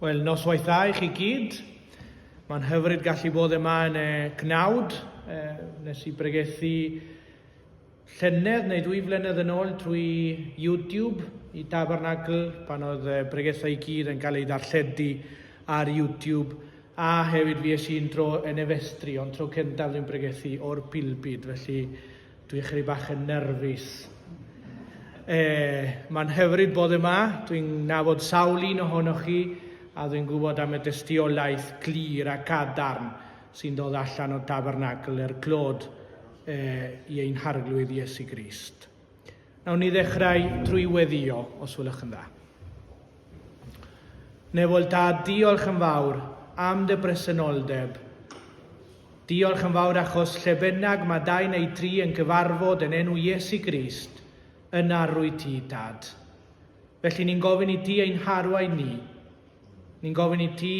Wel, noswaith dda i chi gyd. Mae'n hyfryd gallu bod yma yn y cnawd. E, nes i bregethu llynedd neu ddwy flynedd yn ôl trwy YouTube i Tabernacl pan oedd y bregethau i gyd yn cael eu darlledu ar YouTube a hefyd fi es i'n tro yn efestri ond tro cyntaf dwi'n bregethu o'r pilbid felly dwi'n chyri bach yn nerfus. E, mae'n hyfryd bod yma, dwi'n nabod sawl un ohonoch chi a dwi'n gwybod am y dystiolaeth glir a cadarn sy'n dod allan o tabernacl er clod e, i ein Harglwydd Iesu Grist. Nawn ni ddechrau trwy weddio, os wylwch yn dda. Nefol da, diolch yn fawr am dy bresenoldeb. Diolch yn fawr achos lle bynnag mae dau neu tri yn cyfarfod yn enw Iesu Grist, yna rwy ti, Dad. Felly ni'n gofyn i ti ein harwain ni. Ni'n gofyn i ti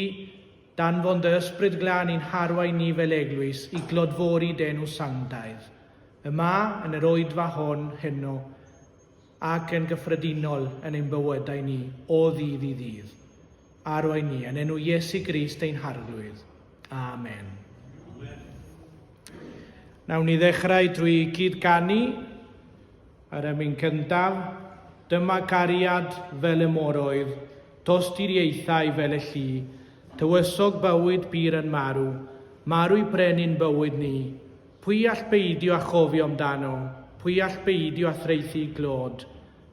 Danfon dy Ysbryd Glân i'n harwain ni fel Eglwys i glodfori d'enw sanctaidd, yma, yn yr Oedfa hon heno, ac yn gyffredinol yn ein bywydau ni o ddydd i ddydd. Arwain ni, yn enw Iesu Grist ein Harglwydd. Amen. Nawn ni ddechrau drwy gyd-ganu. Ar y myn cyntaf, dyma cariad fel y moroedd, tosturiaethau fel y llu, tywysog bywyd pur yn marw, marw i brenin bywyd ni. Pwy all beidio â chofio amdano, pwy all beidio â thraethu i glod?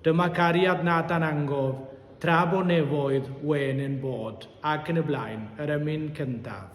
Dyma cariad nad dan angof, tra bo nefoedd wen yn bod, ac yn y blaen, yr ymyn cyntaf.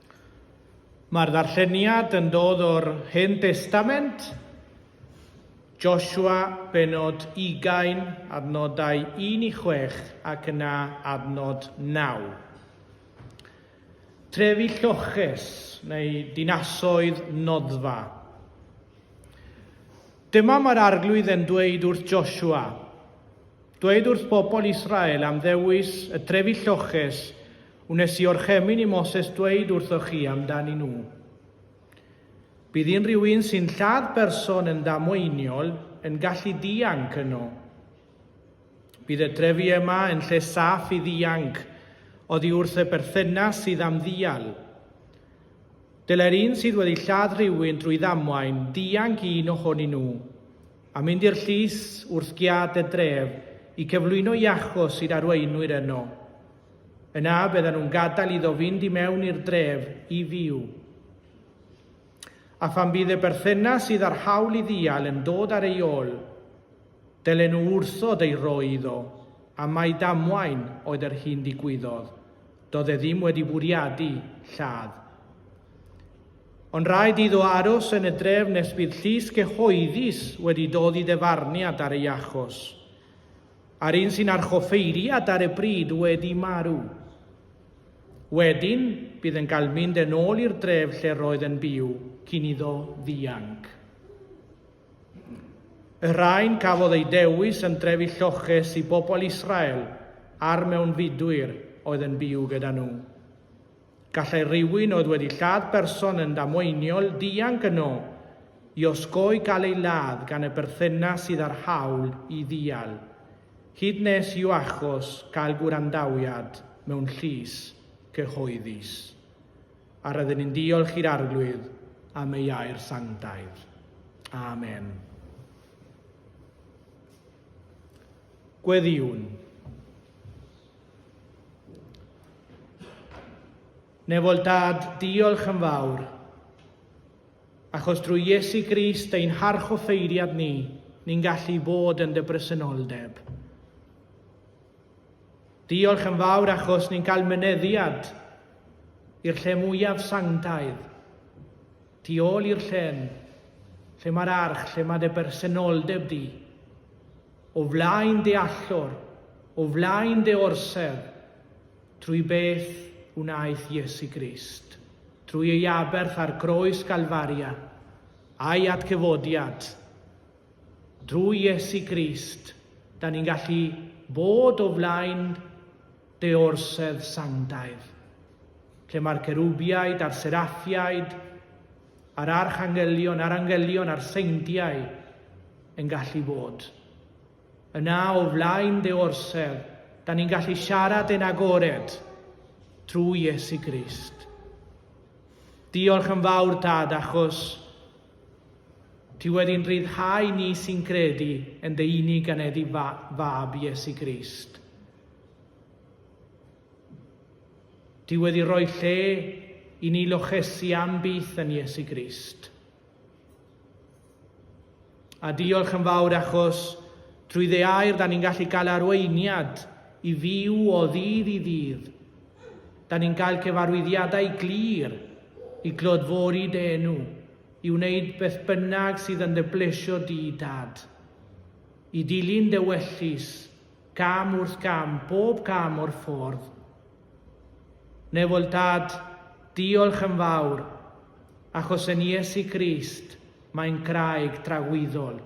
Mae'r ddarlleniad yn dod o'r Hen Destament, Joshua bennod ugain, adnodau un i chwech ac yna adnod naw. Trefi lloches, neu dinasoedd noddfa. Dyma mae'r Arglwydd yn dweud wrth Joshua, Dweud wrth bobl Israel am ddewis y trefi lloches wnes i orchemyn i Moses dweud wrthoch chi amdanyn nhw. Bydd un rhywun sy'n lladd person yn ddamweiniol yn gallu dianc yno. Bydd y trefi yma yn lle saff i ddianc oddi wrth y berthynas sydd am ddial. Dylai'r un sydd wedi lladd rhywun drwy ddamwain ddianc un ohonyn nhw. a mynd i'r llys wrth giât y dref i cyflwyno i achos i'r arweinwyr yno. Yna byddan nhw'n gadael iddo fynd i mewn i'r dref i fyw. A phan bydd y berthynas sydd â'r hawl i ddial yn dod ar ei ôl, dylen nhw wrthod ei roi iddo, a mai damwain oedd yr hyn digwyddodd, doedd e ddim wedi bwriadu lladd. Ond rhaid iddo aros yn y dref nes bydd llys cyhoeddus wedi dod i ddyfarniad ar ei achos, a'r un sy'n archoffeiriad ar y pryd wedi marw. Wedyn, bydd yn cael mynd yn ôl i'r dref lle roedd yn byw cyn iddo ddianc. Y rhain cafodd eu dewis yn drefi lloches i bobl Israel a'r mewnfudwyr oedd yn byw gyda nhw. Gallai rhywun oedd wedi lladd person yn ddamweiniol ddianc yno i osgoi cael ei ladd gan y berthynas sydd â'r hawl i ddial, hyd nes i'w achos gael gwrandawiad mewn llys cyhoeddus. A rydyn ni'n diolch i'r Arglwydd am ei air sanctaidd. Amen. Gweddïwn. Newol Dad, diolch yn fawr. Achos drwy Iesu Grist ein harchoffeiriad ni, ni'n gallu bod yn dy bresenoldeb. Diolch yn fawr achos ni'n cael myneddiad i'r lle mwyaf sanctaidd, tu ôl i'r llen, lle mae'r arch, lle mae dy bersenoldeb di. O flaen dy allor, o flaen dy orsedd, trwy beth wnaeth Iesu Grist, trwy ei aberth ar groes Galfaria, a'i atgyfodiad, drwy Iesu Grist, da ni'n gallu bod o flaen dy orsedd sanctaidd, lle mae'r cerubiaid a'r seraffiaid a'r archangelion a'r angelion a'r seintiau yn gallu bod. Yna o flaen dy orsedd, da ni'n gallu siarad yn agored trwy Iesu Grist. Diolch yn fawr, Dad, achos ti wedi'n rhyddhau ni sy'n credu yn dy unig aneddi fab Iesu Grist. Ti wedi rhoi lle i ni lochesu am byth yn Iesu Grist. A diolch yn fawr achos trwy dde air da ni'n gallu cael arweiniad i fyw o ddydd i ddydd. Da ni'n cael cyfarwyddiadau glir i glodfori dy enw, i wneud beth bynnag sydd yn dy blesio di, Dad. I dilyn dy wellus, Gam wrth gam, bob cam o'r ffordd. Newel Dad, diolch yn fawr, achos yn Iesu Grist mae'n graig dragwyddol,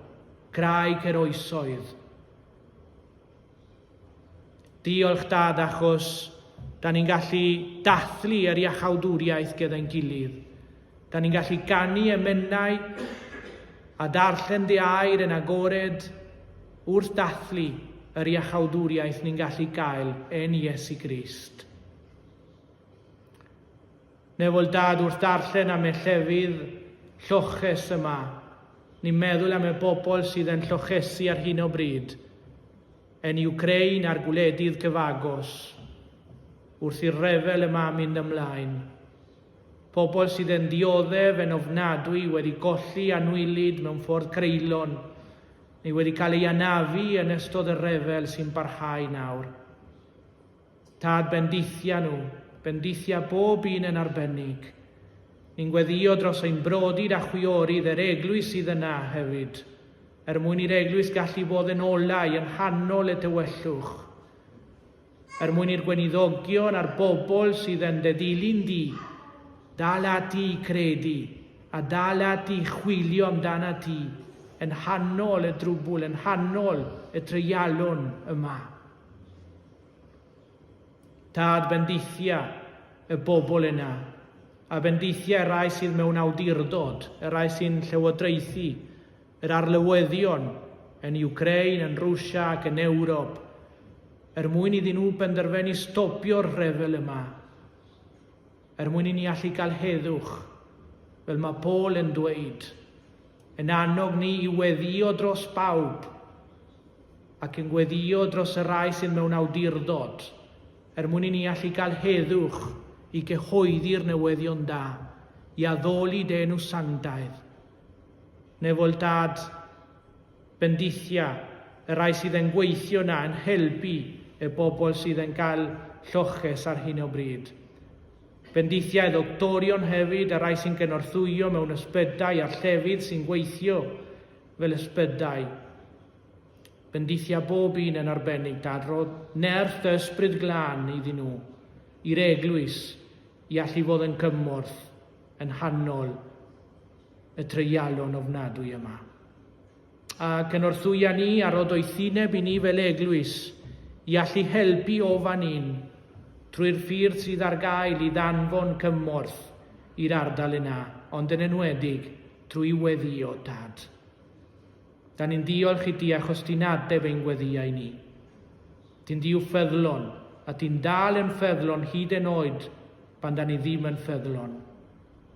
graig yr oesoedd. Diolch Dad achos da ni'n gallu dathlu yr iachawdwriaeth gyda'n gilydd. Da ni'n gallu ganu emennau a darllen De Air yn agored wrth dathlu yr iachawdwriaeth ni'n gallu gael yn Iesu Grist. Nefol dad wrth darllen am y llefydd lloches yma. Ni'n meddwl am y bobl sydd yn llochesu ar hyn o bryd, yn Ukraine a'r gwledydd cyfagos, wrth i'r rhyfel yma mynd ymlaen. Pobl sydd yn dioddef yn ofnadwy wedi colli anwylyd mewn ffordd greulon, neu wedi cael ei anafu yn ystod y rhyfel sy'n parhau nawr. Tad bendithia nhw, bendithia bob un yn arbennig. Ni'n gweddio dros ein brodid a chwiorydd yr eglwys sydd yna hefyd, er mwyn i'r eglwys gallu bod yn olau yn nghanol y tywyllwch. Er mwyn i'r gweiniddogion a'r bobl sydd yn dy ddilyn di dal ati i gredu a dal ati i chwilio amdanat ti yng nghanol y drwbwl, yng nghanol y treialon yma. Tad, bendithia y bobl yna, a bendithia y rai sydd mewn awdurdod, y rai sy'n llywodraethu, yr arlywyddion yn Iwcrain, yn Rwsia ac yn Ewrop er mwyn iddyn nhw benderfenu stopio'r rhyfel yma, er mwyn i ni allu cael heddwch, fel mae Paul yn dweud, yn annog ni i weddïo dros bawb ac yn gweddïo dros y rai sydd mewn awdurdod, er mwyn i ni allu cael heddwch i gyhoeddi'r newyddion da, i addoli dy enw sanctaidd. Newol Dad, bendithia, y rai sydd yn gweithio na yn helpu y bobl sydd yn cael lloches ar hyn o bryd. Bendithia y doctorion hefyd, y rai sy'n gynorthwyo mewn ysbydau a'r llefydd sy'n gweithio fel ysbydau. Bendithia bob un yn arbennig Dad, rodd nerth dy ysbryd glân iddyn nhw, i'r eglwys, i allu fod yn cymorth. yn nghanol y treialon ofnadwy yma. A cynorthwya ni a rod oethineb i ni fel eglwys i allu helpu o fan hyn trwy'r ffyrdd sydd ar gael i ddanfon cymorth i'r ardal yna, ond yn enwedig trwy weddio tad. Da ni'n diolch i di achos di'n adef ein gweddiau ni. Di'n Dduw ffyddlon, a di'n dal yn ffyddlon hyd yn oed pan da ni ddim yn ffyddlon.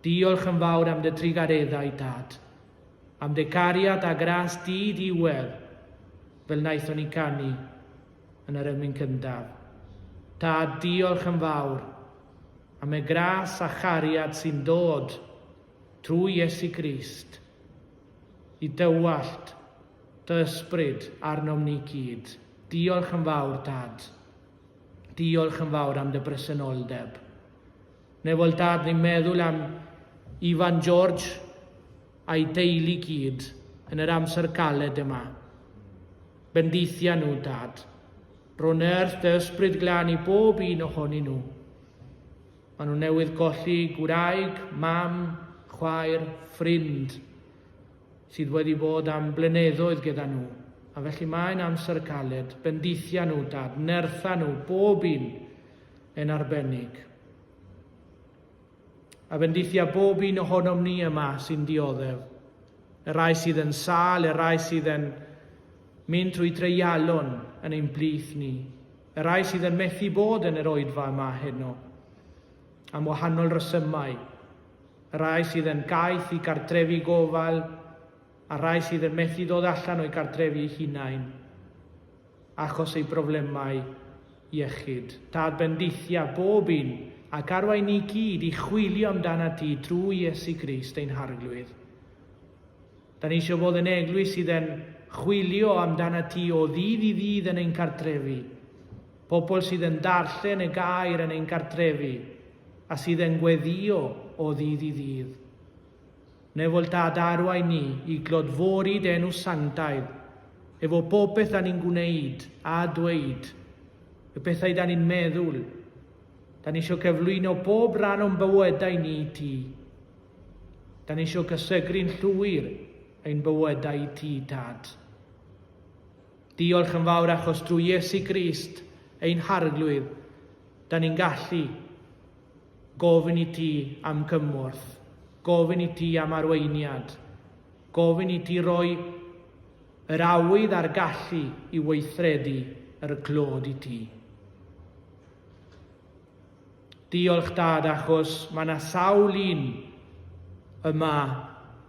Diolch yn fawr am dy drugareddau, Dad. Am dy cariad a gras di ddiwedd, fel naethon ni canu yn yr emyn cyntaf. Tad, diolch yn fawr am y gras a chariad sy'n dod trwy Iesu Grist. i dywallt dy ysbryd arnom ni gyd. Diolch yn fawr, Dad. Diolch yn fawr am dy bresenoldeb. Nefol Dad, ni'n meddwl am Ifan George a'i deulu gyd yn yr amser galed yma. Bendithia nhw, Dad. Ro'n earth dy ysbryd glân i bob un ohonyn nhw. Maen nhw newydd golli gwraig, mam, chwaer, ffrind sydd wedi bod am blyneddoedd gyda nhw, a felly mae'n amser y caled, bendithia nhw, dad, nertha nhw, bob un yn arbennig. A bendithia bob un ohonom ni yma sy'n dioddef, y rai sydd yn sal, y rai sydd yn mynd trwy dreialon yn ein blith ni. Y rhai sydd yn methu bod yn yr oedfa yma heno, am wahanol resymau, y rhai sydd yn gaeth i gartrefi gofal, a'r rhai sydd yn methu dod allan o'i gartrefi eu hunain, achos eu problemau iechyd. Tad bendithia bob un, ac arwain ni gyd i chwilio amdanat ti drwy Iesu Grist ein Harglwydd. Da ni eisiau fod yn eglwys sydd yn chwilio amdanat ti o ddydd i ddydd yn ein cartrefi. Pobl sydd yn darllen y gair yn ein cartrefi a sydd yn gweddio o ddydd i ddydd. Nefol tad arwain ni i glodfori denw sanctaidd efo popeth da ni'n gwneud a dweud, y pethau da ni'n meddwl. Da ni eisiau cyflwyno pob rhan o'n bywydau ni i ti. Da ni eisiau cysegru'n llwyr ein bywydau i ti, Tad. Diolch yn fawr achos drwy Iesu Grist, ein harglwydd, da ni'n gallu gofyn i ti am cymorth, gofyn i ti am arweiniad, gofyn i ti roi yr awydd a'r gallu i weithredu yr clod i ti. Diolch dad achos mae yna sawl un yma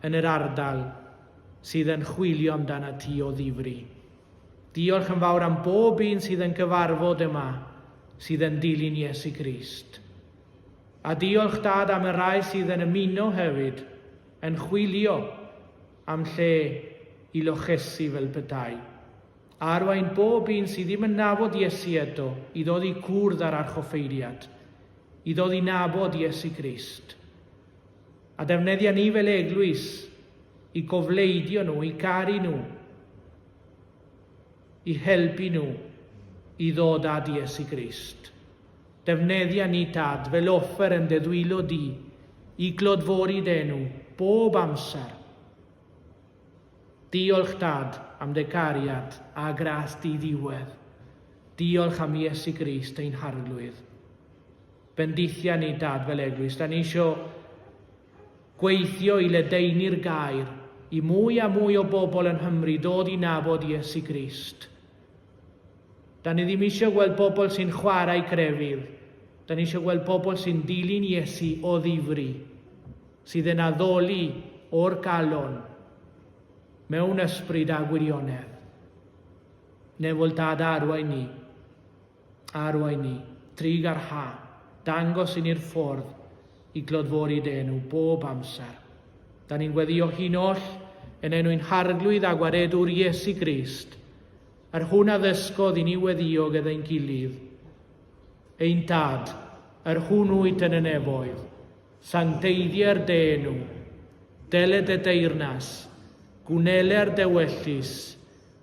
yn yr ardal sydd yn chwilio amdanat ti o ddifri. Diolch yn fawr am bob un sydd yn gyfarfod yma sydd yn dilyn Iesu Grist. A diolch dad am y rai sydd yn ymuno hefyd yn chwilio am lle i lochesu fel petai. a arwain bob un sydd ddim yn nabod Iesu eto i ddod i gwrdd â'r archoffeiriad, i ddod i nabod Iesu Grist. A defnyddia ni fel eglwys i gofleidio nhw, i garu nhw, i helpu nhw i ddod at Iesu Grist. Defnyddia ni, Tad, fel offer yn deddwylo di, i glodfori denw, bob amser. Diolch Dad am dy gariad a gras di ddiwedd. Diolch am Iesu Grist ein Harglwydd. Bendithia ni Dad fel eglwys, da ni isio gweithio i ledaenu'r gair i mwy a mwy o bobl yn Nghymru dod i nabod Iesu Grist. Dan ni ddim eisiau gweld pobl sy'n chwarae crefydd, dan ni eisiau gweld pobl sy'n dilyn Iesu o ddifri, sydd yn addoli o'r galon, mewn ysbryd a gwirionedd. Nefol Dad arwain ni, arwain ni, trig ar ha, dangos i ni'r ffordd i glodfori dy enw bob amser. Da ni'n gweddio hi'n oll yn enw'n harglwydd a gwaredwr Iesu Grist. Yr hwn a ddysgodd i ni weddiog edd ein gilydd, ein Dad, yr hwn wyt yn y nefoedd, sancteiddier de enw, dele de deyrnas, gwneler de wellus,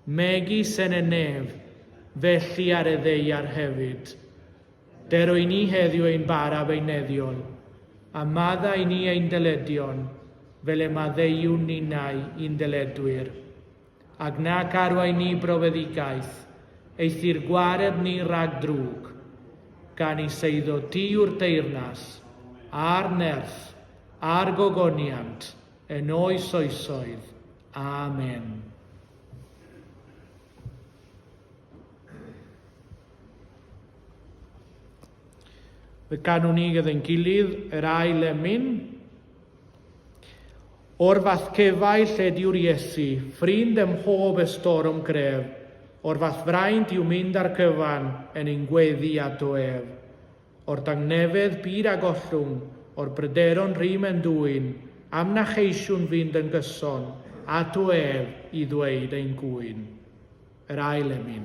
megis en y nef, felly ar y ddeiar hefyd. Dero i ni heddiw ein bara beuneddiol, a madda i ni ein dyledion, fel y maddeiwn ninau i'n dyledwyr. Ac nac arwain ni brofedigaeth, eithr gwareb ni rhag drwg, gan i seiddo ti yw'r teyrnas, a'r nerth, a'r gogoniant, yn oes oesoedd. Amen. Fe ganwn ni gyda'n gilydd yr ail emyn. O'r fath cefau lle dyw'r Iesu, ffrind ym mhob estorom gref, O'r fath fraint i'w mynd ar gyfan yn ein gweddi a do ef. O'r dangnefedd byd a gollwng, o'r bryderon rym yn dwyn, Am na cheisiwn fynd yn gyson ato ef i ddweud ein gŵyn. Yr ail emyn.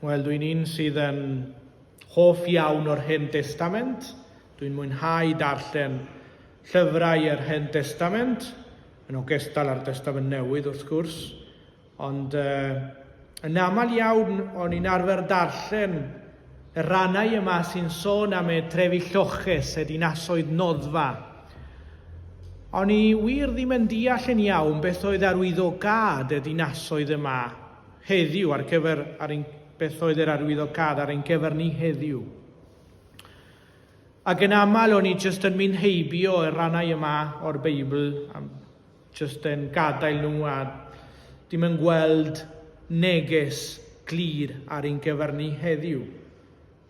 Wel, dwi'n un sydd yn hoff iawn o'r Hen Testament. Dwi'n mwynhau darllen llyfrau yr Hen Testament, yn ogystal â'r Testament Newydd wrth gwrs. Ond uh, yn aml iawn o'n i'n arfer darllen Y rhannau yma sy'n sôn am y trefi lloches, y dinasoedd noddfa. O'n i wir ddim yn deall yn iawn beth oedd arwyddocâd y dinasoedd yma heddiw ar gyfer ar ein, beth oedd yr arwyddocâd ar ein gyfer ni heddiw. Ac yn aml o'n i jyst yn mynd heibio y rhannau yma o'r Beibl am Jyst yn gadael nhw a dim yn gweld neges glir ar ein cyfer ni heddiw.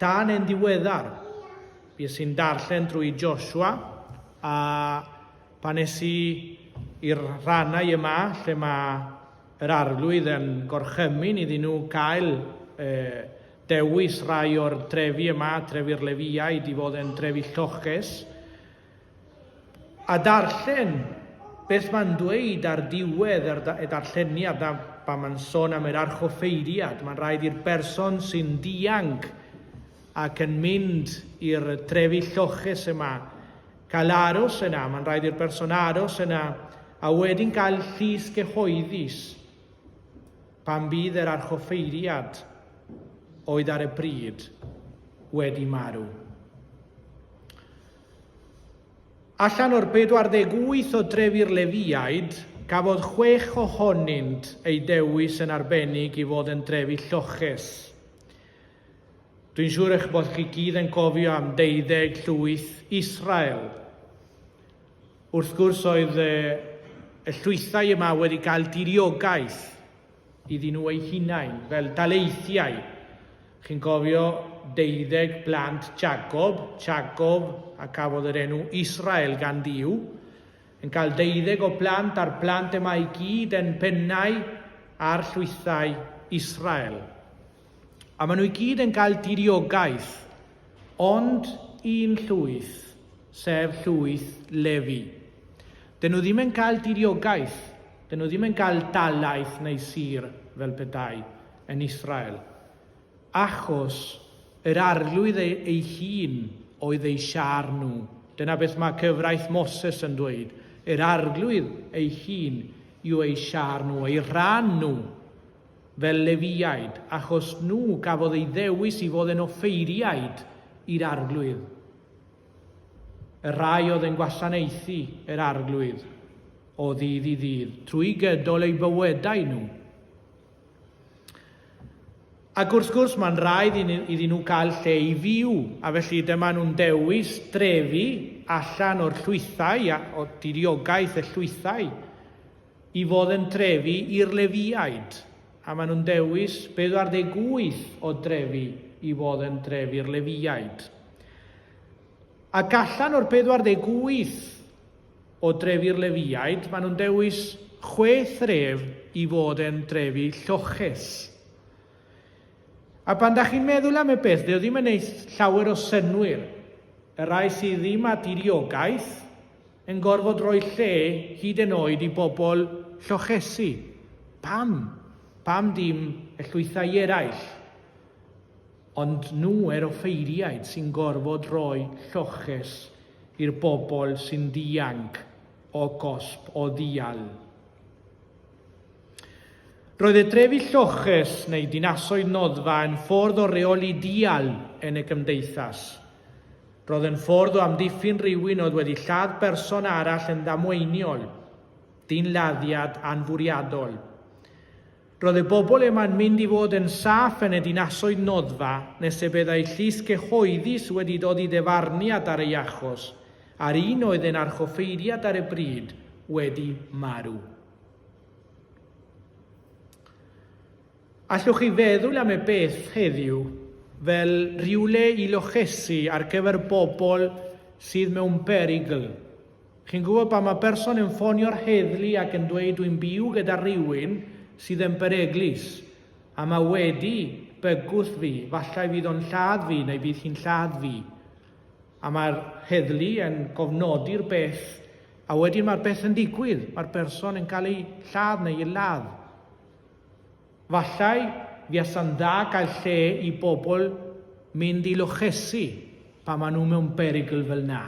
Tan yn diweddar, bues i'n darllen drwy Joshua a pan es i i'r rhannau yma lle mae yr arglwydd yn gorchymyn iddyn nhw cael e, dewis rhai o'r trefi yma, trefi'r Lefiaid, i fod yn trefi lloches. A darllen beth mae'n dweud ar diwedd yr y darlleniad 'na pan mae'n sôn am yr archoffeiriad. Mae'n rhaid i'r berson sy'n dianc ac yn mynd i'r trefi lloches yma cael aros yna. Mae'n rhaid i'r berson aros yna a wedyn cael llys cyhoeddus pan bydd yr archoffeiriad oedd ar y pryd wedi marw. Allan o'r 48 o dref i'r Lefiaid, cafodd chwech ohonynt eu dewis yn arbennig i fod yn drefi lloches. Dwi'n siŵr eich bod chi gyd yn cofio am deuddeg llwyth Israel. Wrth gwrs oedd y llwythau yma wedi cael diriogaeth iddyn nhw eu hunain, fel daleithiau. Chi'n cofio deuddeg blant Jacob, Jacob a cafodd yr enw Israel gan Dduw, yn cael deuddeg o blant a'r blant yma i gyd yn pennau ar llwythau Israel. A maen nhw i gyd yn cael diriogaeth, ond un llwyth, sef llwyth Lefi. Dyn nhw ddim yn cael diriogaeth, dyn nhw ddim yn cael dalaeth neu sir fel petai yn Israel, achos yr arglwydd ei, ei hun oedd eu siar nhw. Dyna beth mae cyfraith Moses yn dweud. Yr arglwydd ei hun yw eu siar nhw, eu rhan nhw. fel Lefiaid, achos nhw gafodd eu dewis i fod yn offeiriaid i'r Arglwydd, y rhai oedd yn gwasanaethu yr Arglwydd o ddydd i ddydd, trwy gydol eu bywydau nhw. Ac wrth gwrs, mae'n rhaid iddyn nhw cael lle i fyw, a felly dyma nhw'n dewis drefi allan o'r llwythau, o diriogaeth y llwythau, i fod yn drefi i'r Lefiaid, a maen nhw'n dewis 48 o drefi i fod yn drefi'r Lefiaid. Ac allan o'r 48 o drefi'r Lefiaid, maen nhw'n dewis chwe thref i fod yn drefi lloches. A pan da chi'n meddwl am y peth, ddew ddim yn eith llawer o synwyr, y rai sydd ddim â diriogaeth, yn gorfod rhoi lle hyd yn oed i bobl llochesu. Pam? Pam dim y llwythau eraill? Ond nhw yr offeiriaid sy'n gorfod rhoi lloches i'r bobl sy'n dianc o gosb o ddial. Roedd y trefi lloches neu dinasoedd noddfa yn ffordd o reoli dial yn y gymdeithas. Roedd yn ffordd o amddiffyn rhywun oedd wedi lladd berson arall yn ddamweiniol, dynladdiad anfwriadol. Roedd y bobl yma'n mynd i fod yn saff yn y dinasoedd noddfa nes y byddai llys cyhoeddus wedi dod i ddyfarniad ar ei achos, a'r un oedd yn archoffeiriad ar y bryd wedi marw. Allwch chi feddwl am y beth heddiw fel rhywle i lochesu ar gyfer bobl sydd mewn perygl. Chi'n gwybod pan mae person yn ffonio'r heddlu ac yn dweud dwi'n byw gyda rhywun sydd yn beryglus a mae wedi bygwth fi, falle fydd o'n lladd fi neu bydd hi'n lladd fi. A mae'r heddlu yn cofnodi'r beth a wedyn mae'r beth yn digwydd, mae'r person yn cael ei lladd neu ei ladd. Falle fuasa'n dda gael lle i bobl mynd i lochesi pan maen nhw mewn perygl fel 'na.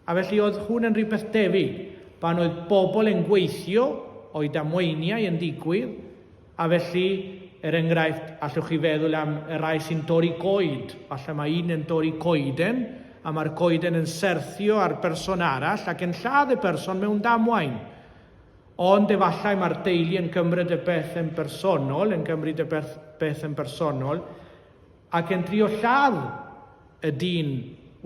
A felly oedd hwn yn rhywbeth tebyg, pan oedd bobl yn gweithio, oedd damweiniau yn digwydd, a felly, er enghraifft, allwch chi feddwl am y rhai sy'n torri coed, falle mae un yn torri coeden, a mae'r coeden yn serthio ar berson arall ac yn lladd y person mewn damwain. Ond efallai mae'r deulu yn cymryd y beth yn bersonol, yn cymryd y beth, beth yn bersonol, ac yn trio lladd y dyn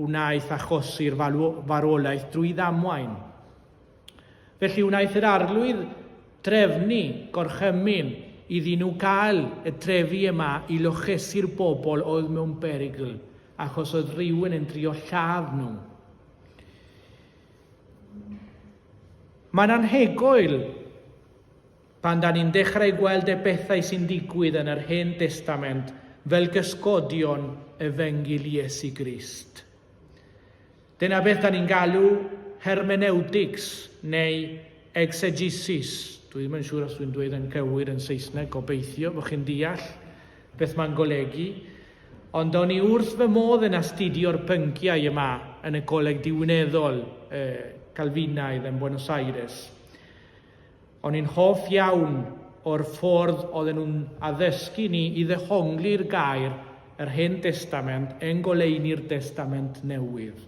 wnaeth achosi'r farwolaeth drwy ddamwain. Felly wnaeth yr arlwydd drefnu gorchymyn iddyn nhw gael y trefi yma i lochesu'r bobl oedd mewn berygl, achos oedd rhywun yn trio lladd nhw. Mae'n anhygoel pan da ni'n dechrau gweld y bethau sy'n digwydd yn yr Hen Destament fel gysgodion efengyl Iesu Grist. Dyna beth da ni'n galw hermeneutics neu exegesis. Dwi ddim yn siŵr os dwi'n dweud yn cywir yn Saesneg, gobeithio bod chi'n deall beth mae'n golygu. Ond o'n i wrth fy modd yn astudio'r pynciau yma yn y Coleg Diwineddol y Calfinaidd yn Buenos Aires. O'n i'n hoff iawn o'r ffordd oedden nhw'n addysgu ni i ddehongli'r gair yr Hen Destament yn goleuni'r Destament Newydd.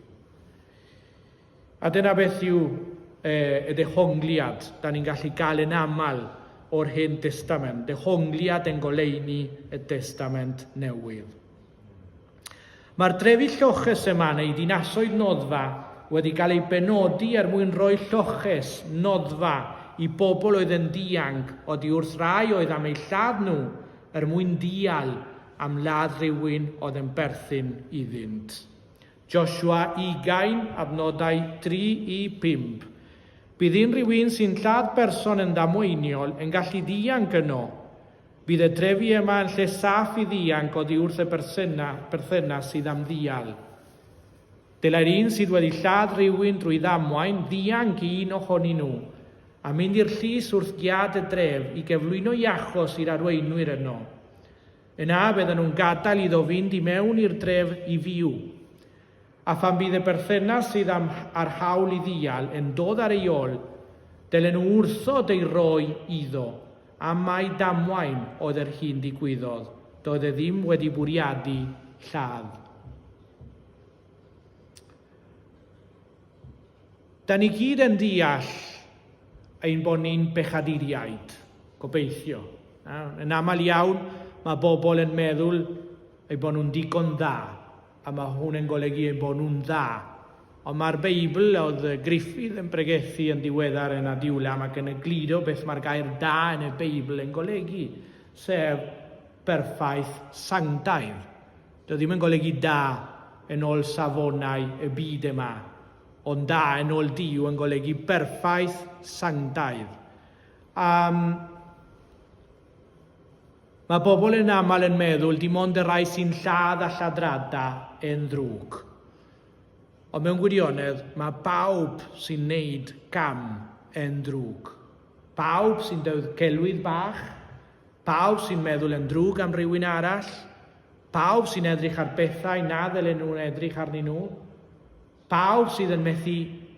A dyna beth yw y ddehongliad dan ni'n gallu gael yn aml o'r Hen Destament, dehongliad yn goleuni y Testament Newydd. Mae'r drefi lloches yma neu ddinasoedd noddfa wedi cael ei benodi er mwyn rhoi lloches noddfa i bobl oedd yn ddianc oddi wrth rai oedd am eu lladd nhw er mwyn dial am ladd rhywun oedd yn berthyn iddynt. Joshua ugain, adnodau tri i phump. Bydd unrhyw un sy'n lladd person yn ddamweiniol yn gallu dianc yno. Bydd y trefi yma yn lle saff i ddianc oddi wrth y bersyna, perthynas sydd am ddial. Dylai'r un sydd wedi lladd rhywun drwy ddamwain ddianc i un ohonyn nhw, a mynd i'r llys wrth giât y dref i geflwyno i achos i'r arweinwyr yno. Yna fyddan nhw'n gadael iddo fynd i mewn i'r dref i fyw. A phan bydd y berthynas sydd am a'r hawl i ddial yn dod ar ei ol, dylen nhw wrthod ei roi iddo, am mai damwain oedd yr hyn digwyddodd, doedd e ddim wedi bwriadu lladd. Da ni gyd yn deall ein bod ni'n bechaduriaid, gobeithio. Yn aml iawn, mae bobl yn meddwl ei bod nhw'n digon dda, a mae hwn yn golygu ei bod nhw'n dda. Ond mae'r Beibl, oedd Griffith yn pregethu yn ddiweddar yn Adiwlam ac yn y gludo beth mae'r gair da yn y Beibl yn golygu, sef perffaith sanctaidd. Dio ddim yn golygu da yn ol safonau y byd yma, ond da yn ol Duw yn golygu berffaith, sanctaidd. Um, mae bobl yn aml yn meddwl dim ond y rai sy'n lladd a lladrada yn ddrwg. Ond mewn gwirionedd, mae bawb sy'n neud cam yn ddrwg. Pawb sy'n dewdd celwydd bach, pawb sy'n meddwl yn ddrwg am rywun arall, Pawb sy'n edrych ar bethau na ddylai nhw edrych arnyn nhw? Pawb sydd yn methu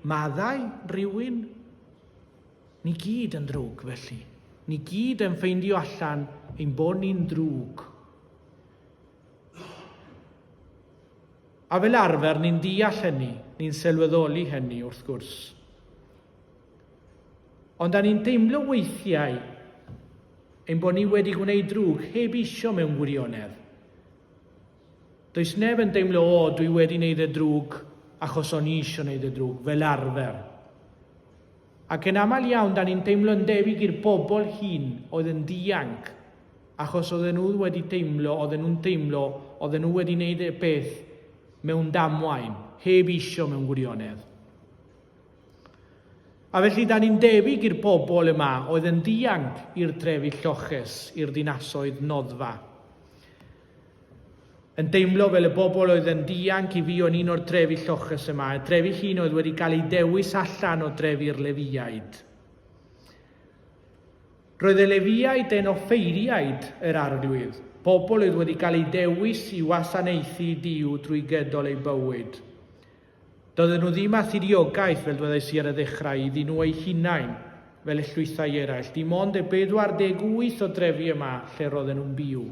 maddau rhywun? Ni gyd yn ddrwg, felly. Ni gyd yn ffeindio allan ein bod ni'n ddrwg. A fel arfer, ni'n deall hynny, ni'n sylweddoli hynny, wrth gwrs. Ond da ni'n deimlo weithiau ein bod ni wedi gwneud drwg heb eisiau mewn wirionedd. Does neb yn deimlo, o, dwi wedi wneud y drwg achos o'n i eisiau wneud y drwg, fel arfer. Ac yn aml iawn, da ni'n teimlo'n debyg i'r bobl hyn oedd yn dianc, achos oedden nhw wedi teimlo, oedden nhw'n teimlo, oedden nhw wedi wneud y peth mewn damwain, heb eisiau mewn gwirionedd. A felly, da ni'n debyg i'r bobl yma oedd yn ddianc i'r trefi lloches, i'r dinasoedd noddfa. Yn deimlo fel y bobl oedd yn ddianc i fi o'n un o'r trefi lloches yma, y trefi hyn oedd wedi cael ei dewis allan o drefi'r Lefiaid. Roedd y Lefiaid yn offeiriaid yr arglwydd, pobl oedd wedi cael ei dewis i wasanaethu Dyw drwy gydol ei bywyd. Doedden nhw ddim â thiriogaeth, fel dwedais i ar y ddechrau, iddyn nhw eu hunain, fel y llwythau eraill, dim ond e 48 o drefi yma lle roedden nhw'n byw.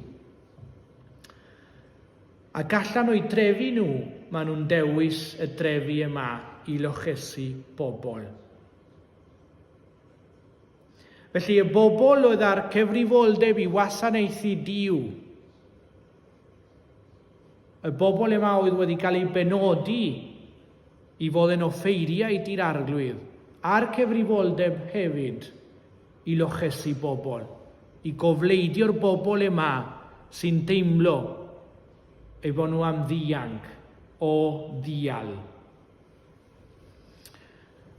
Ac allan o'u drefi nhw, maen nhw'n dewis y drefi yma i lochesu bobl. Felly y bobl oedd â'r cyfrifoldeb i wasanaethu Duw, Y bobl yma oedd wedi cael eu benodi i fod yn offeiriaid i'r Arglwydd, a'r cyfrifoldeb hefyd i lochesu bobl, i gofleidio'r bobl yma sy'n teimlo ei fod nhw am ddianc o ddial.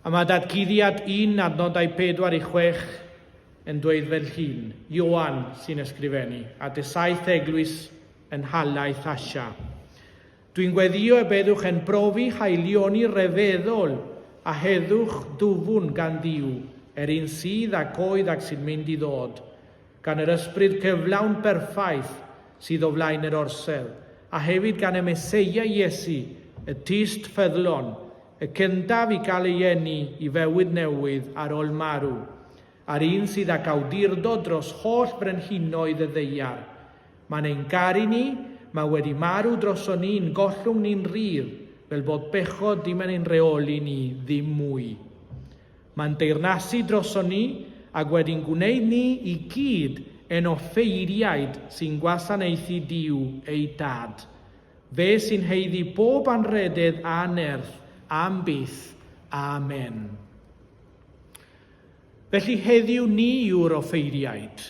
A mae datguddiad un adnodau 4 i 6 yn dweud fel hyn, Ioan sy'n ysgrifennu, at y saith eglwys yn nhalaith Asia. Dwi'n gweddio y byddwch yn profi haelioni rhyfeddol a heddwch dwfwn gan Dduw, yr un sydd ac oedd ac sy'n mynd i ddod. gan yr ysbryd cyflawn berffaith sydd o flaen yr orsedd, a hefyd gan y Meseia Iesu, y Tyst ffyddlon, y cyntaf i gael ei eni i fywyd newydd ar ol marw, a'r un sydd ag awdurdod dros holl frenhinoedd y ddaear. Mae'n ein garu ni, mae wedi marw droson ni'n gollwng ni'n rhydd, fel bod bechod dim yn ein rheoli ni ddim mwy. Mae'n deyrnasu droson ni ac wedi'n gwneud ni i gyd yn offeiriaid sy'n gwasanaethu Duw eu Dad, fe sy'n haeddu bob anrhydedd a nerth am byth. Amen. Felly heddiw ni yw'r offeiriaid.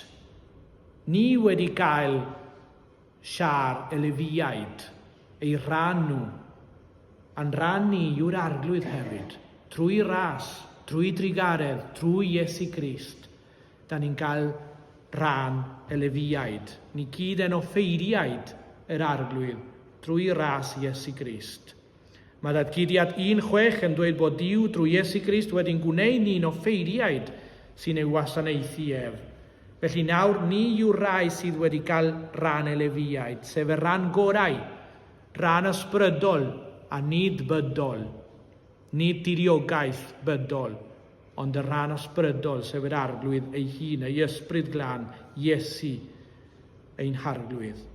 Ni wedi gael Siar y Lefiaid, ei rhan nhw, a'n rhan ni yw'r Arglwydd hefyd. Trwy ras, trwy drugaredd, trwy Iesu Grist, da ni'n cael rhan y Lefiaid. Ni gyd yn offeiriaid yr Arglwydd drwy ras Iesu Grist. Mae Datguddiad 1:6 yn dweud bod Duw drwy Iesu Grist wedi'n gwneud ni'n offeiriaid sy'n ei wasanaethu ef. Felly nawr ni yw'r rhai sydd wedi cael rhan elefiaid, sef y rhan gorau, rhan ysbrydol a nid bydol, nid tiriogaeth bydol, ond y rhan ysbrydol, sef yr Arglwydd ei hun, ei Ysbryd Glân, Iesu, ein Harglwydd.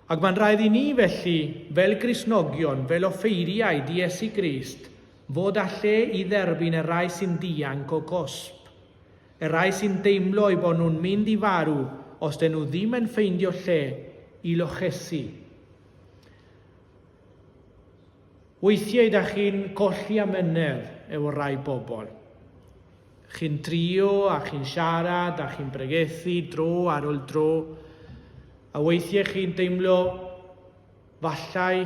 Ac mae'n rhaid i ni felly, fel Gristnogion, fel offeiriaid i Iesu Grist, fod â lle i dderbyn y rai sy'n dianc o gosb. Y rai sy'n deimlo eu bod nhw'n mynd i farw os dyn nhw ddim yn ffeindio lle i lochesu. Weithiau da chi'n colli amynedd efo rai bobl. Chi'n trio a chi'n siarad a chi'n bregethu dro ar ol dro, a weithie chi'n deimlo fallai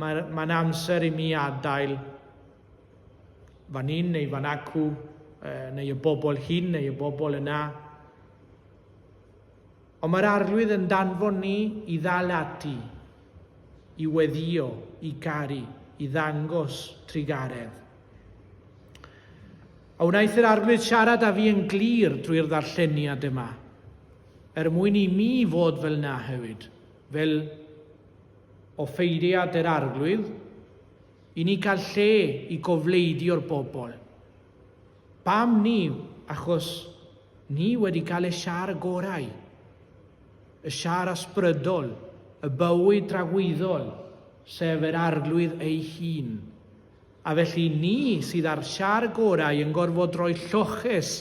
mae mae'n amser i mi adael fan hyn neu fan acw, neu y bobl hyn neu y bobl yna. Ond mae'r Arglwydd yn danfon ni i ddal ati, i weddïo, i garu, i ddangos trugaredd. A wnaeth yr Arglwydd siarad â fi yn glir drwy'r ddarlleniad yma, er mwyn i mi fod fel na hefyd, fel offeiriad yr Arglwydd, i ni gael lle i gofleidio'r bobl. Pam ni? Achos ni wedi cael y siar y gorau, y siar ysbrydol, y bywyd dragwyddol, sef yr Arglwydd ei hun. A felly ni sydd â'r siar gorau yn gorfod rhoi lloches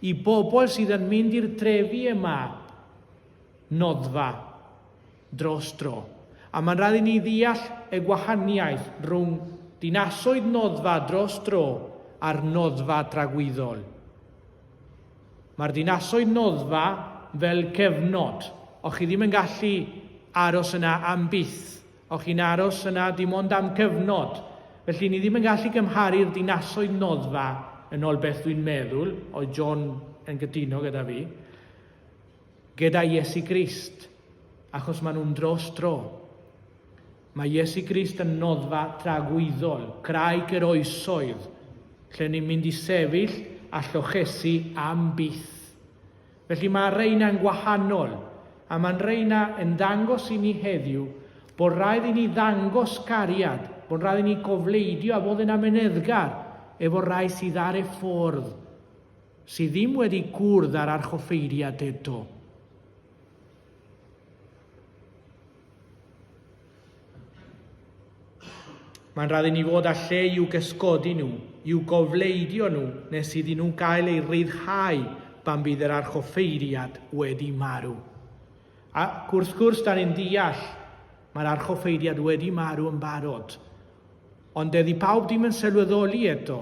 i bobl sydd yn mynd i'r drefi yma, noddfa. dros dro, a mae'n rhaid i ni ddeall y gwahaniaeth rhwng dinasoedd noddfa dros dro a'r noddfa dragwyddol. Mae'r dinasoedd noddfa fel cyfnod, o chi ddim yn gallu aros yna am byth, o chi'n aros yna dim ond am cyfnod, felly ni ddim yn gallu cymharu'r dinasoedd noddfa yn ol beth dwi'n meddwl, oedd John yn gytuno gyda fi, Gyda Iesu Grist, achos maen nhw'n dros dro. Mae Iesu Grist yn noddfa tragwyddol, craig yr oesoedd, lle ni'n mynd i sefyll a llochesu am byth. Felly mae reina'n gwahanol, a mae'n reina yn dangos i ni heddiw bod rhaid i ni ddangos cariad, bod rhaid i ni gofleidio a fod yn ameneddgar efo rai sydd ar y ffordd. Sy ddim wedi gwrdd â'r archoffeiriad eto. Mae'n rhaid i ni fod â lle i'w gysgodi nhw, i'w gofleidio nhw nes iddyn nhw gael eu rhyddhau pan bydd yr archoffeiriad wedi marw. Ac wrth gwrs, da ni'n deall, mae'r archoffeiriad wedi marw yn barod. Ond dydi pawb ddim yn sylweddoli eto,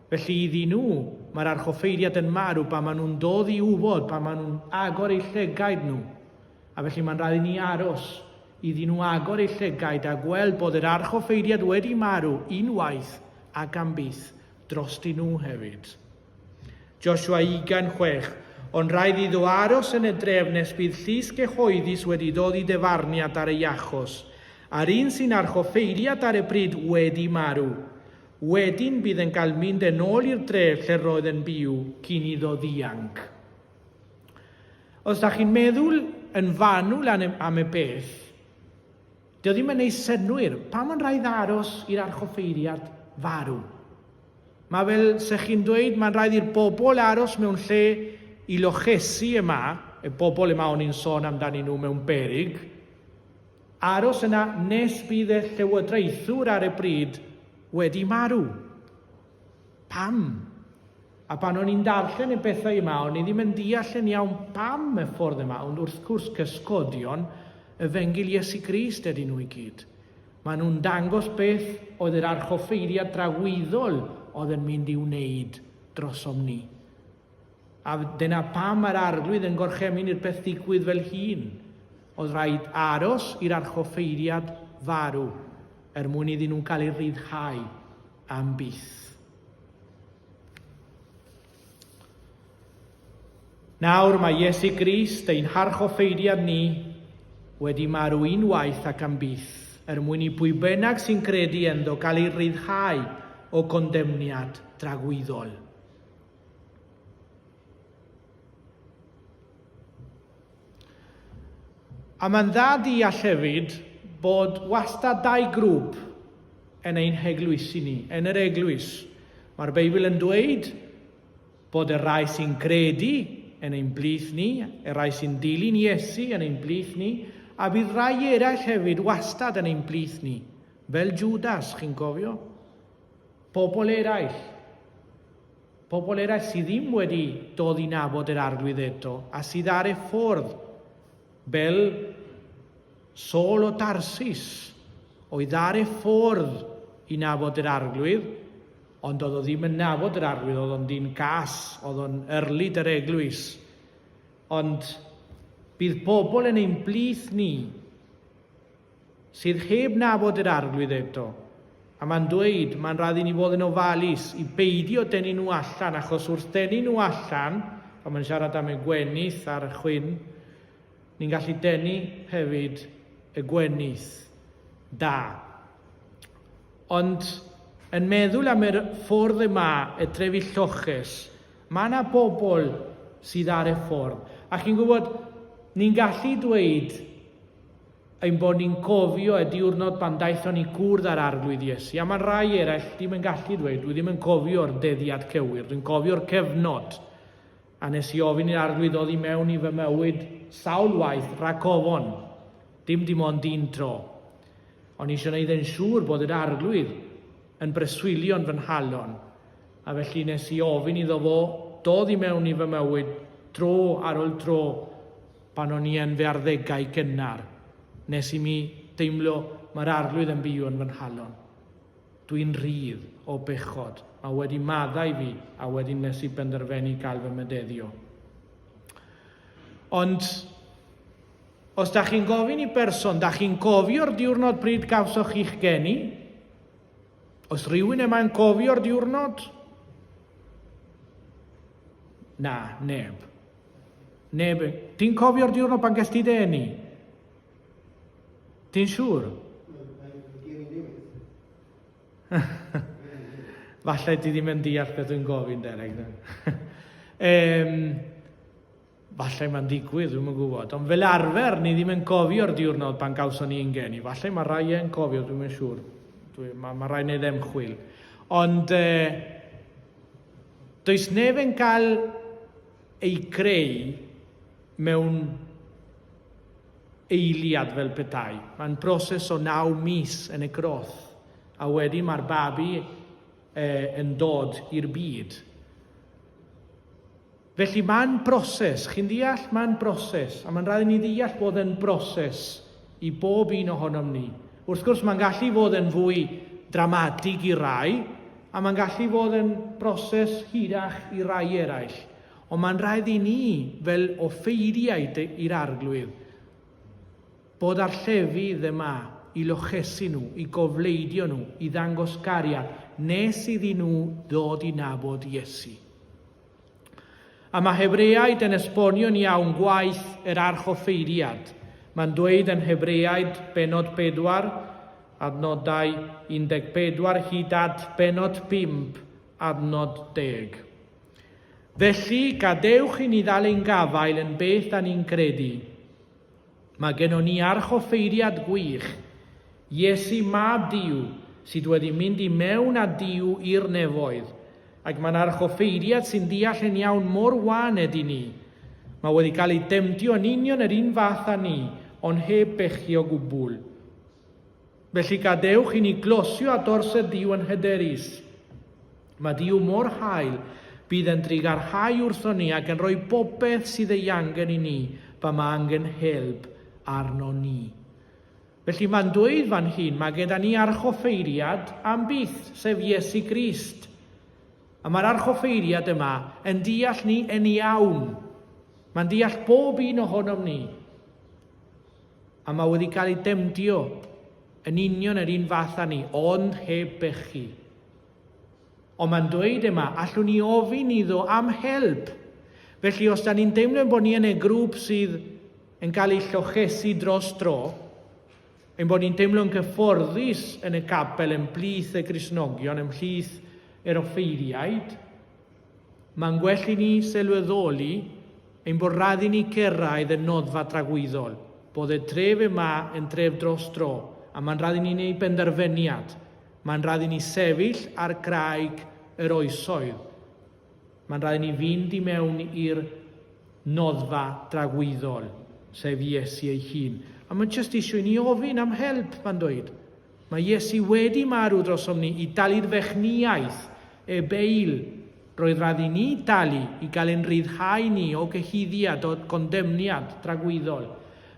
felly iddyn nhw, mae'r archoffeiriad yn marw pan maen nhw'n dod i wybod, pan maen nhw'n agor eu llygaid nhw. A felly mae'n rhaid i ni aros iddyn nhw agor eu llygaid a gweld bod yr archoffeiriad wedi marw unwaith ac am byth drostyn nhw hefyd. Joshua 26, ond rhaid iddo aros yn y dref nes bydd llys gyhoeddus wedi dod i dyfarniad ar ei achos, a'r un sy'n archoffeiriad ar y pryd wedi marw. Wedyn bydd yn cael mynd yn ôl i'r dref lle roedd yn byw cyn iddo ddianc. Os da chi'n meddwl yn fanwl am y peth, Doedd ddim yn ei synnwyr pam ond rhaid aros i'r archoffeiriad farw. Mae fel se chi'n dweud, mae'n rhaid i'r bobl aros mewn lle i lochesu yma, y bobl yma o'n i'n sôn amdanyn nhw mewn berig, aros yna nes bydd y llywodraethwr ar y bryd wedi marw. Pam? A pan o'n i'n darllen y pethau yma, o'n i ddim yn deall yn iawn pam y ffordd yma, ond wrth gwrs cysgodion y fengil Iesu Grist ydyn nhw i gyd. Maen nhw'n dangos beth oedd yr archoffeiriad dragwyddol oedd yn mynd i wneud drosom ni. A dyna pam mae'r arglwydd yn gorchemyn i'r peth ddigwydd fel hun. Oedd rhaid aros i'r archoffeiriad farw er mwyn iddyn nhw'n cael eu rhyddhau. Am byth. Nawr mae Iesu Grist, ein harchoffeiriad ni, wedi marw unwaith ac am byth, er mwyn i bwy bynnag sy'n credu ynddo gael ei ryddhau o gondemniad dragwyddol. A mae'n dda deall hefyd bod wastad dau grŵp yn ein heglwysi ni, yn yr eglwys. Mae'r Beibl yn dweud bod y rai sy'n credu yn ein blith ni, y rai sy'n dilyn Iesu yn ein blith ni, a bydd rai eraill hefyd wastad yn ein blith ni, fel Judas, chi'n cofio? Pobl eraill. Pobl eraill sydd ddim wedi dod i nabod yr arglwydd eto a sydd ar y ffordd, fel Saul o Tarsus, oedd ar y ffordd i nabod yr arglwydd, ond oedd o ddim yn nabod yr arglwydd, oedd o'n dyn cas, oedd o'n yrlid yr eglwys. Ond bydd pobl yn ein blith ni sydd heb nabod yr Arglwydd eto, a mae'n dweud, mae'n rhaid i ni fod yn ofalus i beidio denu nhw allan, achos wrth denu nhw allan, pan mae'n siarad am y gwenith a'r chwyn, ni'n gallu denu hefyd y gwenith da. Ond yn meddwl am yr ffordd yma, y trefi lloches, mae yna bobl sydd ar y ffordd. A chi'n gwybod, ni'n gallu dweud Ein bod ni'n cofio y diwrnod pan daethon ni cwrdd â'r Arglwydd Iesu, a mae'n rhai eraill ddim yn gallu dweud, dwi ddim yn cofio'r deddiad cywir, dwi'n cofio'r cyfnod, a nes i ofyn i'r Arglwydd oddi mewn i fy mywyd sawl waith rhag ofon, dim dim ond un tro. O'n i eisiau gwneud yn siŵr bod yr Arglwydd yn breswylio'n fy nhalon, a felly nes i ofyn iddo fo dod i mewn i fy mywyd tro ar ol tro, Pan o'n i yn fy arddegau gynnar, nes i mi deimlo mae'r arglwydd yn byw yn fy nghalon. Dwi'n rhydd o bechod, mae wedi maddau fi a wedyn nes i benderfenu gael fy mededdio. Ond os da chi'n gofyn i berson, da chi'n cofio'r diwrnod bryd gawsoch chi'ch geni? Os rhywun yma'n cofio'r diwrnod? Na, neb. Neb, ti'n cofio'r diwrnod pan ges ti dy eni? Ti'n siŵr? Falle ti ddim yn deall beth dwi'n gofyn, Derek. um, falle mae'n digwydd, dwi'n yn gwybod. Ond fel arfer, ni ddim yn cofio'r diwrnod pan gawson ni ingen i. Falle mae rhai yn cofio, dwi'n yn siŵr. Dwi, mae, mae rhai wneud emchwil. Ond... Uh, Does neb yn cael ei greu mewn eiliad fel petai. Mae'n broses o naw mis yn y groth, a wedyn mae'r babi e, yn dod i'r byd. Felly, mae'n broses, chi'n deall, mae'n broses, a mae'n rhaid i ni ddeall bod e'n broses i bob un ohonom ni. Wrth gwrs, mae'n gallu fod yn fwy dramatig i rai, a mae'n gallu fod yn broses hirach i rai eraill. Ond mae'n rhaid i ni, fel offeiriaid i'r arglwydd, bod ar llefydd yma i lochesu nhw, i gofleidio nhw, i ddangos gariad, nes iddyn nhw ddod i nabod Iesu. A mae Hebreaid yn esbonio'n iawn gwaith yr archoffeiriad. Mae'n dweud yn Hebreaid benod 4, adnodau 14 hyd at benod 5, adnod 10. Felly, gadewch i ni ddal ein gafael yn beth da ni'n credu. Mae gennon ni archoffeiriad gwych, Iesu mab Duw sydd wedi mynd i mewn â Duw i'r nefoedd, ac mae'n archoffeiriad sy'n deall yn iawn mor wan ydy ni. Mae wedi cael ei demtio yn union yr un fath â ni, ond heb bechu o gwbl. Felly gadewch i ni glosio â dorset Duw yn hyderus. Mae Duw mor hael, bydd e'n drugarhau wrthon ni ac yn rhoi bopeth sydd ei angen i ni pan mae angen help arno ni. Felly mae'n dweud fan hyn, mae gyda ni archoffeiriad am byth, sef Iesu Grist. A mae'r archoffeiriad yma yn deall ni yn iawn. Mae'n deall bob un ohonom ni. A mae wedi cael ei demdio yn union yr un fath â ni, ond heb bechu. Ond mae'n dweud yma, allwn ni ofyn iddo am help. Felly os da ni'n deimlo bod ni yn y grŵp sydd yn cael ei llochesu dros dro, ein bod ni'n teimlo'n gyfforddus yn y capel ymhlith y Gristnogion, ymhlith yr offeiriaid, Mae'n well i ni sylweddoli ein bod rhaid i ni cyrraedd y noddfa dragwyddol, bod y tref yma yn dref dros dro, a mae'n rhaid i ni wneud penderfyniad. Mae'n rhaid i ni sefyll ar graig yr oesoedd. Mae'n rhaid i ni fynd i mewn i'r noddfa dragwyddol, sef Iesu ei hun. A mae'n jyst eisiau i ni ofyn am help, mae'n dweud. Mae Iesu wedi marw drosom ni i dalu'r fechnïaeth, y bail, roedd radd i ni dalu i gael ein rhyddhau ni o gyhuddiad, o gondemniad dragwyddol,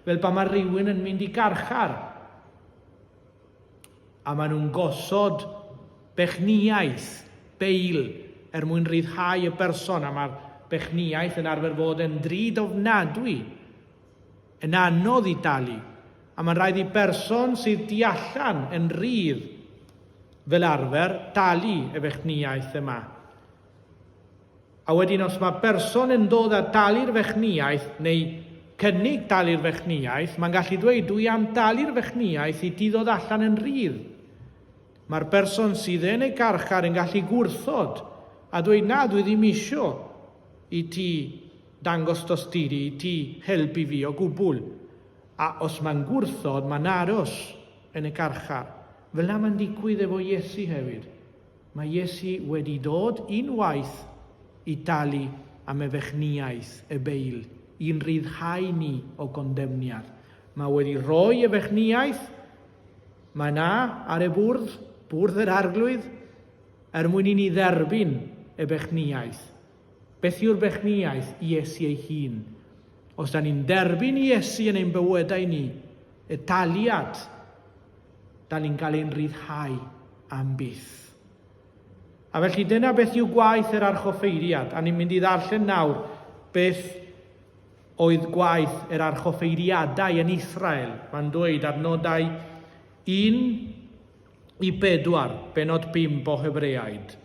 fel pan mae rhywun yn mynd i garchar a maen nhw'n gosod bechniaeth, bail, er mwyn rhyddhau y berson a mae'r bechniaeth yn arfer fod yn drud ofnadwy. yn anodd i dalu, a mae'n rhaid i berson sydd tu allan yn rhydd fel arfer dalu y fechnïaeth yma. A wedyn os mae berson yn dod a dalu'r fechnïaeth neu cynnig dalu'r fechnïaeth, mae'n gallu dweud dwi am dalu'r fechnïaeth i ti ddod allan yn rhydd. Mae'r berson sydd yn y garchar yn gallu gwrthod a dweud na dwi ddim isio. i ti dangos tosturi i ti helpu fi o gwbwl a os mae'n gwrthod mae'n aros yn y carchar. Fel a mae'n digwydd efo Iesu hefyd. Mae Iesu wedi dod unwaith i dalu am efechniaeth y beil i'n rhyddhau ni o gondemniad. Mae wedi rhoi efechniaeth mae na ar y bwrdd, bwrdd yr arglwydd, Er mwyn i ni dderbyn y bechniaeth. Beth yw'r bechniaeth? Iesu ei hun. Os da ni'n derbyn Iesu yn ein bywydau ni, y taliad, da ni'n cael ein rhyddhau am byth. A felly dyna beth yw gwaith yr archoffeiriad, a ni'n mynd i ddarllen nawr beth oedd gwaith yr archoffeiriadau yn Israel. Mae'n dweud ar nodau 1 i bedwar bennod bump o Hebreaid.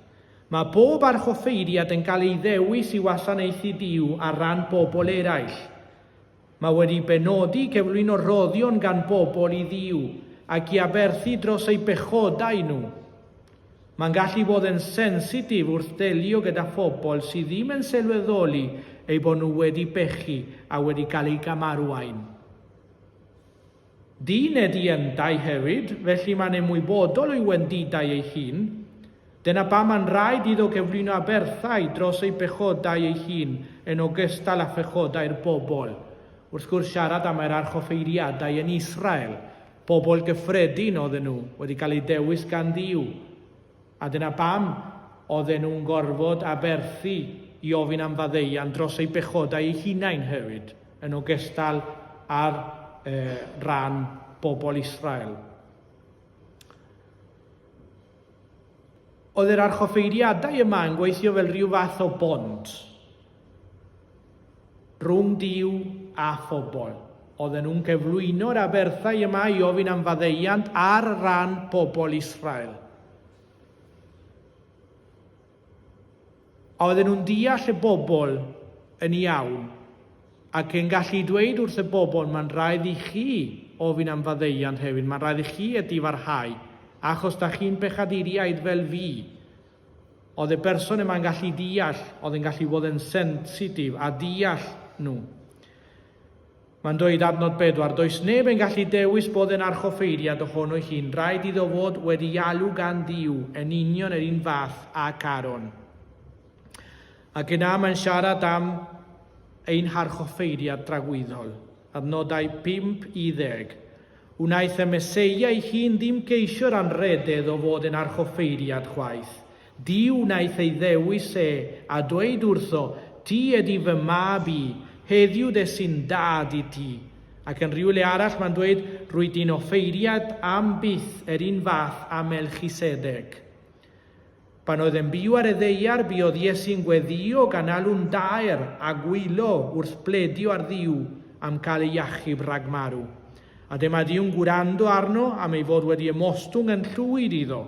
Mae bob archoffeiriad yn cael ei ddewis i wasanaethu Duw ar ran pobl eraill. Mae wedi benodi i gyflwyno rhoddion gan bobl i Dduw ac i aberthu dros eu pechodau nhw. Mae'n gallu bod yn sensitif wrth ddelio gyda phobl sydd ddim yn sylweddoli eu bod nhw wedi pechu a wedi cael eu camarwain. Dyn ydy yndau hefyd, felly mae'n ymwybodol o'i wendidau ei hun. Dyna pam mae'n rhaid iddo gyflwyno aberthau dros ei bechodau ei hun yn ogystal â phechodau'r bobl. Wrth gwrs, siarad am yr archoffeiriadau yn Israel, pobl gyffredin oedden nhw, wedi cael eu dewis gan Dduw. A dyna pam oedden nhw'n gorfod aberthu i ofyn am faddeuant dros eu pechodau eu hunain hefyd, yn ogystal â'r rhan bobl Israel. Oedd yr archoffeiriadau yma yn gweithio fel rhyw fath o bont Rhwng Duw a phobl. Oedden nhw'n cyflwyno'r aberthau yma i ofyn am faddeuant ar ran pobl Israel. A oedden nhw'n deall y bobl yn iawn ac yn gallu dweud wrth y bobl, mae'n rhaid i chi ofyn am faddeuant hefyd, mae'n rhaid i chi ydi farhau, achos da chi'n bechaduriaid fel fi, Oedd y berson yma'n gallu deall, oedd yn gallu fod yn sensitif a deall nhw. Mae'n dweud adnod bedwar, does neb yn gallu dewis bod yn archoffeiriad ohono hi'n rhaid iddo fod wedi alw gan Dduw yn union yr un fath a Caron. Ac yna mae'n siarad am ein harchoffeiriad dragwyddol, adnodau 5 i ddeg. Wnaeth y Meseia ei hun ddim geisio'r anrhydedd o fod yn archoffeiriad chwaith. Duw wnaeth ei ddewis e a dweud wrtho, Ti ydi fy mab i, heddiw des i'n dad i ti. Ac yn rhywle arall mae'n dweud, Rwyt ti'n offeiriad am byth yr un fath â Melchisedeg. Pan oedd e'n byw ar y ddaear, buodd Iesu'n gweddïo gan alw'n daer a gwylo wrth bledio ar Dduw am cael ei achub rhag marw. A dyma Duw'n gwrando arno am ei fod wedi ymostwng yn llwyd iddo.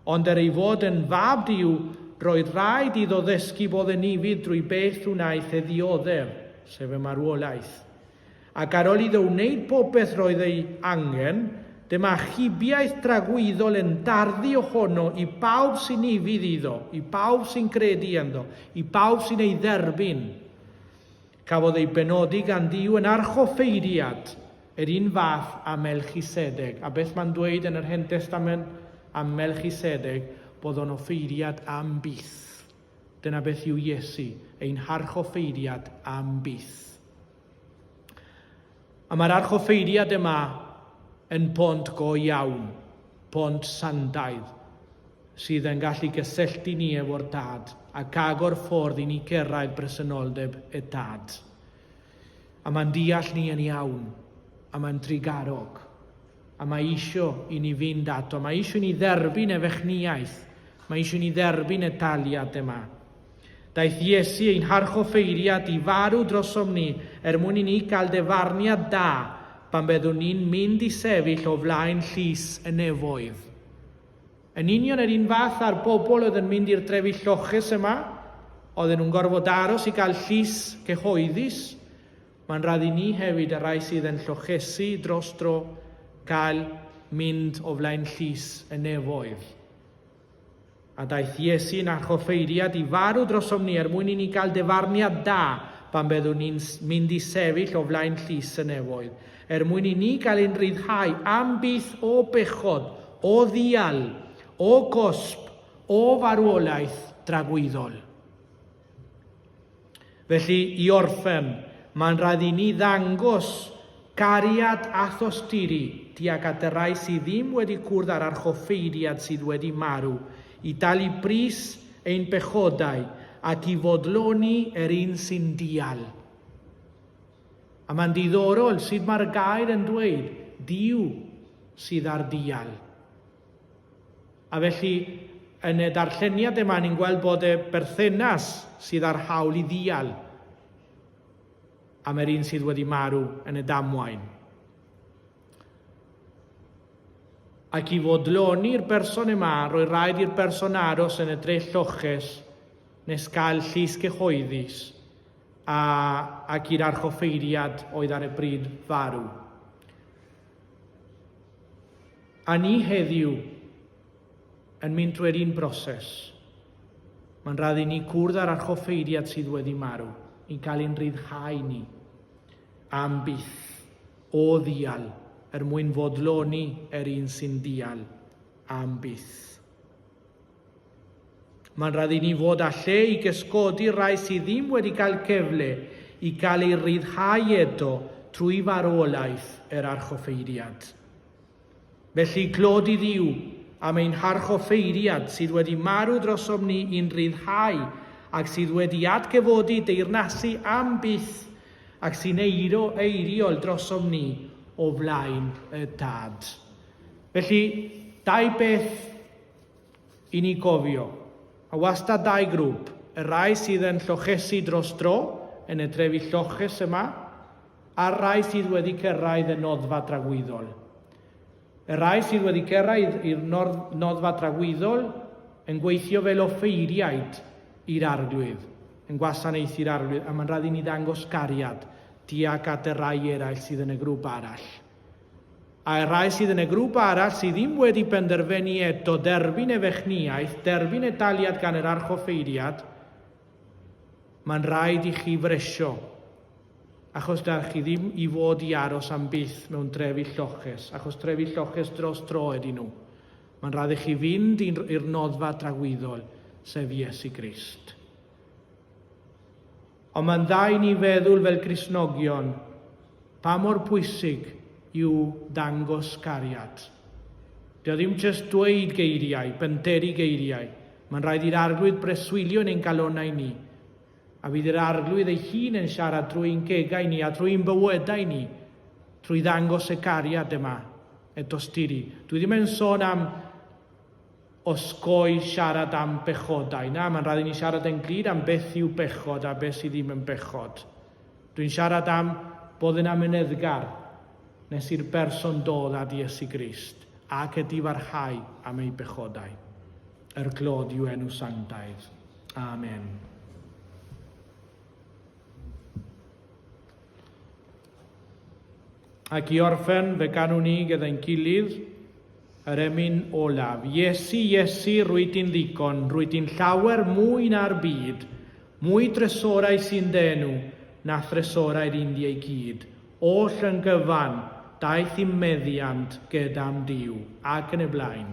Ond er ei fod yn Fab Duw, roedd rhaid iddo ddysgu bod yn ufudd drwy beth wnaeth e ddioddef, sef y marwolaeth. Ac ar ol iddo wneyd bobeth roedd ei angen, dyma achubiaeth dragwyddol yn darddu ohono i bawb sy'n ufudd iddo, i bawb sy'n credu ynddo, i bawb sy'n ei dderbyn. Cafodd ei benodi gan Dduw yn archoffeiriad, yr un fath â Melchisedeg. A beth mae'n dweyd yn yr Hen Destament am Melchisedeg? Bod o'n offeiriad am byth. Dyna beth yw Iesu, ein harchoffeiriad am byth. A mae'r archoffeiriad yma yn pont go iawn, pont sandaidd, sydd yn gallu gysylltu ni efo'r Dad ac agor ffordd i ni cyrraedd bresenoldeb y Dad. A mae'n deall ni yn iawn, a mae'n drugarog, A mae eisiau i ni fynd ato. Mae eisiau i ni dderbyn ei fechnïaeth. Mae eisiau i ni dderbyn y daliad yma. Daeth Iesu ein harchoffeiriad i farw drosom ni er mwyn i ni gael defarniad da pan byddwn ni'n mynd i sefyll o flaen llys y nefoedd. Yn union yr un fath â'r bobl oedd yn mynd i'r trefi lloches yma, oedden nhw'n gorfod aros i gael llys cyhoeddus, Mae'n rhaid i ni hefyd, y rhai sydd yn llochesu dros dro, gael mynd o flaen llys y nefoedd. A daeth Iesu'n archoffeiriad i farw drosom ni er mwyn i ni gael defarniad da pan byddwn ni'n mynd i sefyll o flaen llys y nefoedd, er mwyn i ni gael ein rhyddhau am byth o bechod, o ddial, o gosb, o farwolaeth dragwyddol. Felly, i orffen, mae'n rhaid i ni ddangos cariad a thosturi tuag at y rhai sydd ddim wedi cwrdd â'r archoffeiriad sydd wedi marw, i dalu pris ein pechodau ac i fodloni er un sy'n dial. A mae'n diddorol sut mae'r gair yn dweud, Duw sydd ar dial. A felly, yn y darlleniad yma, ni'n gweld bod y berthynas sydd â'r hawl i ddial am yr un sydd wedi marw yn y damwain. Ac i fodloni'r berson yma, roi rhaid i'r berson aros yn y drell lloches nes gael llys cyhoeddus a, ac i'r archoffeiriad oedd ar y bryd farw. A ni heddiw yn mynd drwy'r un broses. Mae'n rhaid i ni gwrdd â'r archoffeiriad sydd wedi marw, i gael ein rhyddhau ni. Am byth. O ddial, er mwyn fodloni er un sy'n dial. Am byth. Mae'n rhaid i ni fod â lle i gesgodi rai sydd ddim wedi cael cyfle i gael ei ryddhau eto trwy farwolaeth yr archoffeiriad. Felly, glod i Dduw am ein harchoffeiriad sydd wedi marw drosom ni i'n rhyddhau ac sydd wedi atgyfodi deyrnasu am byth ac sy'n eiro eiriol drosom ni o flaen y Dad. Felly, dau beth i ni gofio, a wastad dau grŵp, y rai sydd yn llochesu dros dro yn y trefi lloches yma, a'r rhai sydd wedi cyrraedd y noddfa dragwyddol. Y rhai sydd wedi cyrraedd i'r noddfa dragwyddol yn gweithio fel offeiriaid i'r Arglwydd, yn gwasanaethu'r Arglwydd, a mae'n rhaid i ni ddangos cariad tuag at y rhai eraill sydd yn y grŵp arall. A y rhai sydd yn y grŵp arall sydd ddim wedi penderfynu eto derbyn efechniaeth, derbyn y taliad gan yr archoffeiriad, mae'n rhaid i chi fresio Achos dach chi ddim i fod i aros am byth mewn trefi lloches, achos trefi lloches dros dro ydy nhw. Mae'n rhaid i chi fynd i'r noddfa dragwyddol, sef Iesu Grist. Ond mae'n dda i ni feddwl fel Gristnogion pa mor pwysig yw dangos cariad. Dio ddim jyst dweud geiriau, penteri geiriau. Mae'n rhaid i'r arglwydd breswylio yn ein calonau ni. A fydd yr Arglwydd ei hun yn siarad drwy ein cegau ni a drwy ein bywydau ni, trwy ddangos y cariad yma, y dosturi. Dwi ddim yn sôn am osgoi siarad am bechodau. Na, mae'n rhaid i ni siarad yn glir am beth yw bechod a beth sydd ddim yn bechod. Dwi'n siarad am bod yn amyneddgar nes i'r berson dod at Iesu Grist ac y difarhau am ei bechodau. Er glod yw enw sanctaidd. Amen. Ac i orffen fe ganwn ni gyda'n gilydd yr emyn olaf. Iesu, Iesu, rwy di'n ddigon, rwy di'n llawer mwy na'r byd, mwy dresorau sy'n denw na thresorau'r Indiau gyd. Oll yn gyfan, daeth i meddiant gyda'm Dyw, ac yn y blaen.